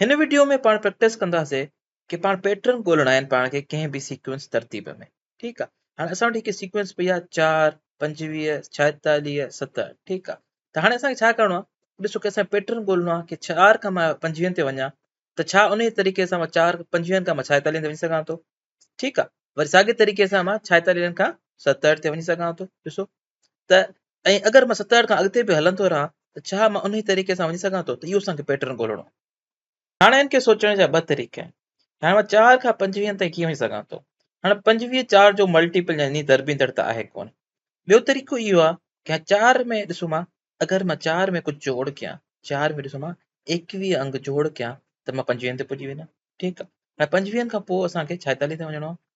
هن وڊيو ۾ پاڻ پريڪٽس ڪنداسي ڪي پاڻ پيٽرن ڳولڻا آهن پاڻ کي ڪنهن به سيڪوينس ترتيب ۾ ٺيڪ آ هاڻي اسان وٽ هڪ سيڪوينس پئي آ 4 25 46 70 ٺيڪ آ ته هاڻي اسان کي ڇا ڪرڻو آ ڏسو ڪي اسان پيٽرن ڳولڻو آ ڪي 4 کان مان 25 تي وڃان ته ڇا ان طريقي سان مان 4 25 کان مان 46 تي وڃي سگهان ٿو ٺيڪ آ وري ساڳي طريقي سان مان 46 کان 70 تي وڃي سگهان ٿو ڏسو ته ۽ اگر مان ستاهٺ کان اڳتي به هلندو رهان ته ڇا مان انهي طريقي سان وڃي سگهان ٿو ته اهو اسان کي پيٽرن ڳولڻو آهي. هاڻ هن کي سوچڻ جا ٻه طريقا آهن. هاڻ مان چار کان پنجويهن تائين ڪيئن وڃي سگهان ٿو. هاڻ پنجويهه چار جو ملٽيپل يعني ضربيندڙ ته آهي ڪونه. ٻيو طريقو اهو آهي ڪه هاڻ چار ۾ ڏسو مان اگر مان چار ۾ ڪجهه جوڙ ڪيان چار ۾ ڏسو مان ايڪويهه انگ جوڙ ڪيان ته مان پنجويهن تي پڄي وڃان ٺيڪ آهي هاڻ پنجويهن کان پوء اسان کي ڇائيتاليهه تي وڃڻو آهي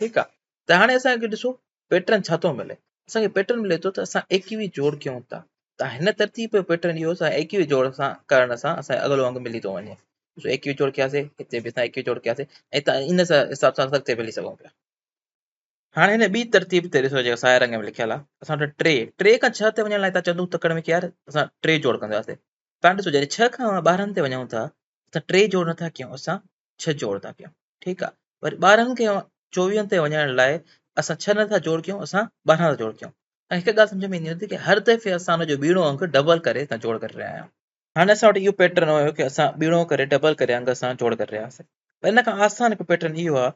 ٺيڪ آ ته هاڻي اسان کي ڏسو پيٽرن ڇا ٿو ملي اسان کي پيٽرن ملي ٿو ته اسان ايڪيوي جوڙ ڪيون ٿا ته هن ترتيب جو پيٽرن اهو اسان ايڪيوي جوڙ سان ڪرڻ سان اسان اڳلو انگ ملي ٿو وڃي ڏسو ايڪيوي جوڙ ڪياسي هتي به اسان ايڪيوي جوڙ ڪياسي ۽ تان ان سان حساب سان اسان اڳتي ملي سگهون پيا هاڻي هن ٻي ترتيب تي ڏسو جيڪا سائي رنگ ۾ لکيل آ اسان وٽ ٽي ٽي کان ڇهه تي وڃڻ لاء تان چندو تڪڙ ۾ يار اسان ٽي جوڙ ڪنداسي تان ڏسو جڏهن ڇهه کان ٻارهن تي وڃون ٿا اسان ٽي جوڙ نٿا ڪيون اسان ڇهه جوڙ ٿا ڪيون ٺيڪ آ وري ٻارهن کي چوويهن تي وڃڻ لاء اسان ڇهه نٿا جوڙ ڪيون اسان ٻارهن ٿا جوڙ ڪيون ۽ هڪ ڳالهه سمجھ ۾ ايندي هوندي ته هر دفعي اسان ان جو ٻيڻو انگ ڊبل ڪري اسان جوڙ ڪري رهيا آهيون هاڻي اسان وٽ اهو پيٽرن هيو ڪي اسان ٻيڻو ڪري ڊبل ڪري انگ اسان جوڙ ڪري رهيا آهيون پر ان کان آسان هڪ پيٽرن اهو آ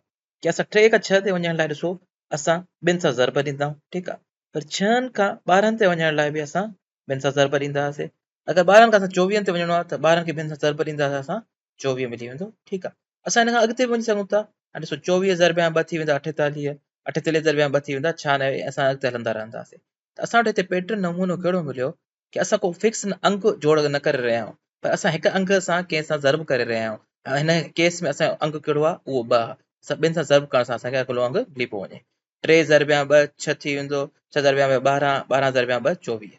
ڪي اسان ٽي کان ڇهه تي وڃڻ لاء ڏسو اسان ٻن سان ضرب ڏيندا آهيون ٺيڪ آ پر ڇهن کان ٻارهن تي وڃڻ لاء به اسان ٻن سان ضرب ڏيندا هئاسي اگر ٻارهن کان اسان چوويهن تي وڃڻو آ ته ٻارهن کي ٻن سان ضرب ڏيندا هئاسي اسان چوويهه ملي ويندو ٺيڪ آ اسان هن کان اڳتي به وڃي سگهون ٿا هاڻي ڏسو چوويهه ضرب يا ٻه ٿي ويندا اٺيتاليهه اٺيتاليهه ضرب يا ٻه ٿي ويندا ڇهانوي اسان اڳتي هلندا رهنداسين ته اسان وٽ هتي پيٽرن نمونو ڪهڙو مليو ڪي اسان ڪو فڪس انگ جوڙ نه ڪري رهيا آهيون پر اسان هڪ انگ سان ڪنهن سان ضرب ڪري رهيا آهيون هن ڪيس ۾ اسان جو انگ ڪهڙو آهي اهو ٻه آهي اسان ٻن سان ضرب ڪرڻ سان اسان کي اڳلو انگ ملي پيو وڃي ٽي ضرب يا ٻه ڇهه ٿي ويندو ڇهه ضرب يا ٻه ٻارهن ٻارهن ضرب يا ٻه چوويهه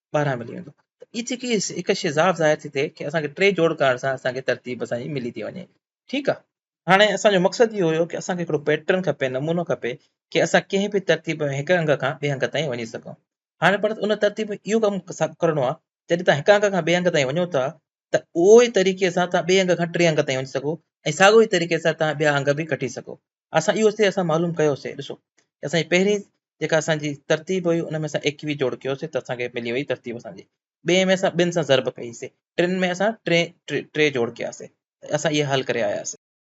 ٻاهران ملي ويندو ته هي جيڪي هڪ شيزاب ظاهر ٿي ٿئي ڪي اسان کي ٽي جوڙ ڪرڻ سان اسان کي ترتيب اسان جي ملي ٿي وڃي ٺيڪ آهي هاڻي اسان جو مقصد اهو هيو ڪي اسان کي هڪڙو پيٽرن کپي نمونو کپي ڪي اسان ڪنهن به ترتيب ۾ هڪ انگ کان ٻئي انگ تائين وڃي سگهون هاڻي پر ان ترتيب ۾ اهو ڪم ڪرڻو آهي جڏهن تان هڪ انگ کان ٻئي انگ تائين وڃو ٿا ته اهو ئي طريقي سان تان ٻئي انگ کان ٽي انگ تائين وڃي سگهو ۽ ساڳو ئي طريقي سان تان ٻيا انگ به ڪٽي سگهو اسان اهو اتي اسان معلوم ڪيوسي ڏسو اسان جي پهرين جيڪا اسان جي ترتيب هئي ان ۾ اسان ايڪويهه جوڙ ڪيوسي ته اسان کي ملي وئي ترتيب اسان جي ٻئي ۾ اسان ٻن سان ضرب ڪئي سي ٽن ۾ اسان ٽي ٽي جوڙ ڪياسي اسان اهي حل ڪري آياسي